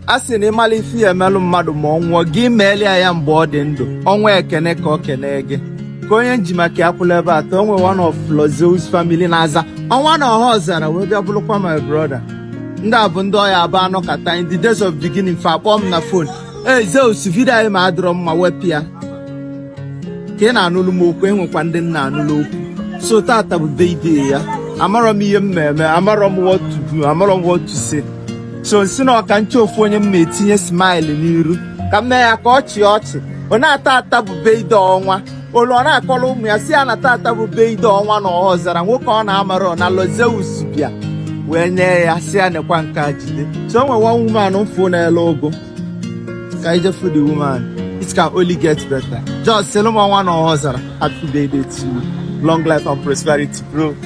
a sị na ị mala ife ị ya-emelụ mmadụ ma ọ nwụọ gị meelụ ya mgbe ọ dị ndụ ọnwa ekene ka ọ kene gị ka onye nji maka ya kwụlụ ebe a taa o nwe one of Lord Zeus family na-aza ọnwa na Ọhaọzara wee bịa bụrụkwa my brother ndị a bụ ndị ọ ya-abụ a nọkata in the days of beginning fa akpọọ m na fon ee Zeus vidio anyị ma adịrọ mma wepụ ya ka ị na-anụlụ m okwu enwekwa ndị m na-anụlụ okwu so tata bụ birthday ya amarọ m ihe m na-eme amarọ m what to do amarọ m what to say so m sị ka m chọọ ofu onye m ya-etinye smile n'iru ka m mee ya ka ọ chịa ọchị na tata bụ birthday ọnwa o luo ọ na-akọrọ ụmụ ya sị ya na tata bụ birthday ọnwa na Ọhaọzara nwoke ọ na-amarọ na Lord Zeus bịa wee nye ya sị ya nekwa nke a jide so o nwe one woman m fụ na-ele ugu ka i je fụ the woman it can only get better just sịlụ m ọnwa na Ọhaọzara happy birthday to you long life and prosperity bro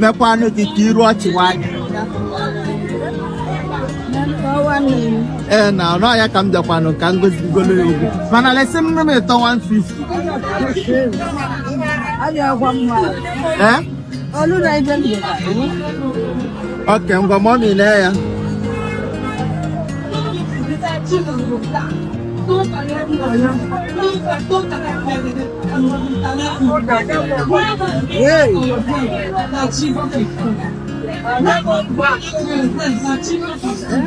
mekwanụ gị ka iru ọchị nwanyị ee na ọnụ ahịa ka m bịakwanụ ka m gozigolo ya ugu mana lesi m m ịtọ 150 ee okay ngwa mommy nye ya Thank you.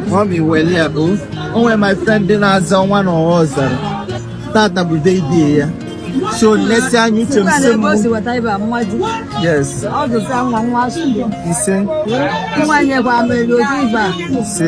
Mommy, well, yeah, boo. Oh, my friend didn't have someone or was there. Tata bụ day day ya. So let's say anyị uche m sị m. Yes. Ise. Ise.